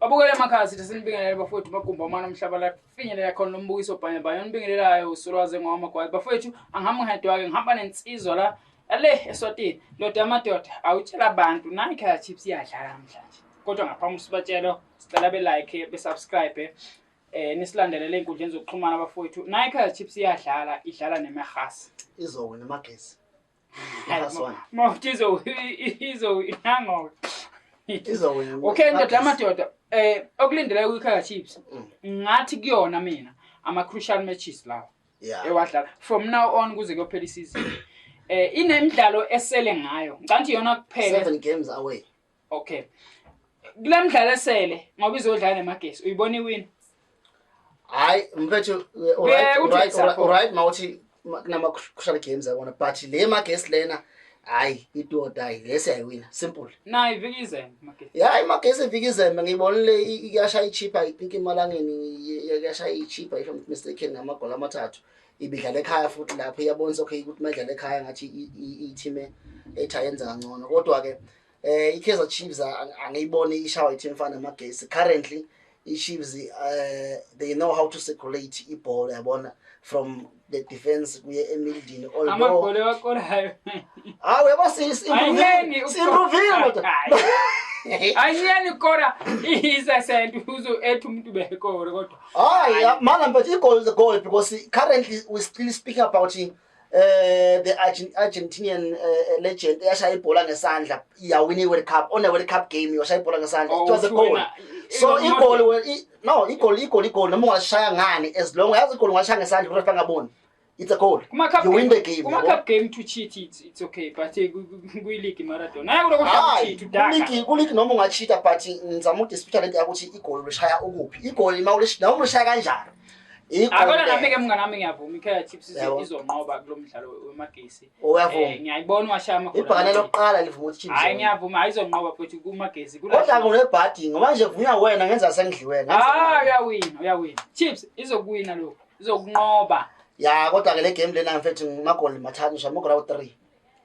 Babukele emakhaya sithi sinibingelele bafowethu bagumba umana umhlaba la finyelela khona lo mbukiso bhanya bhanya onibingelelayo usolwaze ngowamagwayi bafowethu angihambi ngedwa-ke ngihamba nensizwa la ale eswatini ndoda yamadoda awutshela abantu nayi kaya chips iyadlala namhlanje kodwa ngaphambi sibatshelo sicela belike besubscribe eh nisilandelele ey'nkundleni zokuxhumana bafowethu nayi kaya chips iyadlala idlala nemehasi izowena amagesi mawutizo izowinangoke okay ndoda amadoda um okulindelayo kwi-kaizer chiefs mm. ngathi kuyona mina ama-crucial matches lawa ewadlala from now on kuze kuyophela isizini um eh, inemidlalo esele ngayo ngicanti yona kuphela okay kule mdlalo esele ngoba izodlala nemagesi uyibona iwini hayi mfethu right mawuthi kunama-crucial games abona but le magesi lena hayi itodayi le siyayiwina simple nayi ivika izembe magesi ya imagesi ivika izembe ngiyibonile iyashaya ichipha i think emalangeni yashaya ichipha if i'm not mistaken ngamagoli amathathu ibidlala ekhaya futhi lapho iyabonisa okay ukuthi uma idlala ekhaya ngathi iyithime ethayenza kangcono kodwa-ke Eh iKaizer Chiefs angiyiboni ishawa iTeam Fana Magesi currently iChiefs uh, they know how to circulate ibhola yabona from the defense kuye emildini although hawu yabo siyimpruvile kodwa ayiyeni ukora isesent uzo ethi umuntu bekore kodwa hayi mana but igol is a goal because currently we still speaking about eh the Argentinian uh, legend eyashaya ibhola ngesandla yawina iWorld Cup on a World Cup game yashaya ibhola ngesandla oh, it was a goal so igoli wena no igoli igoli igoli noma ungashaya ngani as long as igoli ungashaya ngesandla urefa ngaboni it's a goal kuma cup you win the game kuma cup game to cheat it's, it's okay but eh, kuyi league Maradona hayi kuloko cheat udaka league ku league noma ungacheata but ngizama udispute lento yakuthi igoli ulishaya ukuphi igoli uma ulishaya kanjani Akona nami ke mngane wami ngiyavuma iKaizer Chiefs izonqoba kulomdlalo wemagesi. Uyavuma. Eh, ngiyayibona washaya amagoli. Ibhakane lokuqala livuma ukuthi Chiefs. Hayi ngiyavuma ayizonqoba futhi kumagesi. Kodwa kunebhadi ngoba nje vunya wena ngenza sengidliwe. Ah uyawina uyawina. Chiefs izokuwina lokho. Izokunqoba. Ya kodwa ke le game lena mfethu magoli mathathu shamugora u3.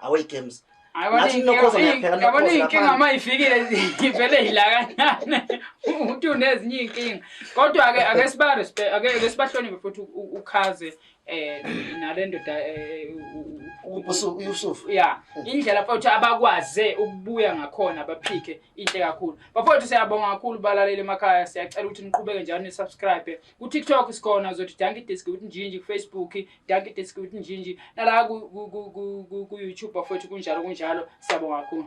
away games yabona iy'nkinga uma ifikile ivele yilakanyane ukuthi unezinye iy'nkinga kodwa-ke ake sibaake sibahloniphe futhi ukhaze um nale ndoda eh, usufu ya indlela futhi abakwaze ukubuya ngakhona baphike inhle kakhulu bafowethu siyabonga kakhulu balaleli emakhaya siyacela ukuthi niqhubeke njalo nisubscribe ku-tiktok sikhona zothi danki disk ukuthi njinji kufacebook Dankie Diski with Njinji. Nala ku ku ku ku ku YouTube bafowethu kunjalo kunjalo. Siyabonga kakhulu.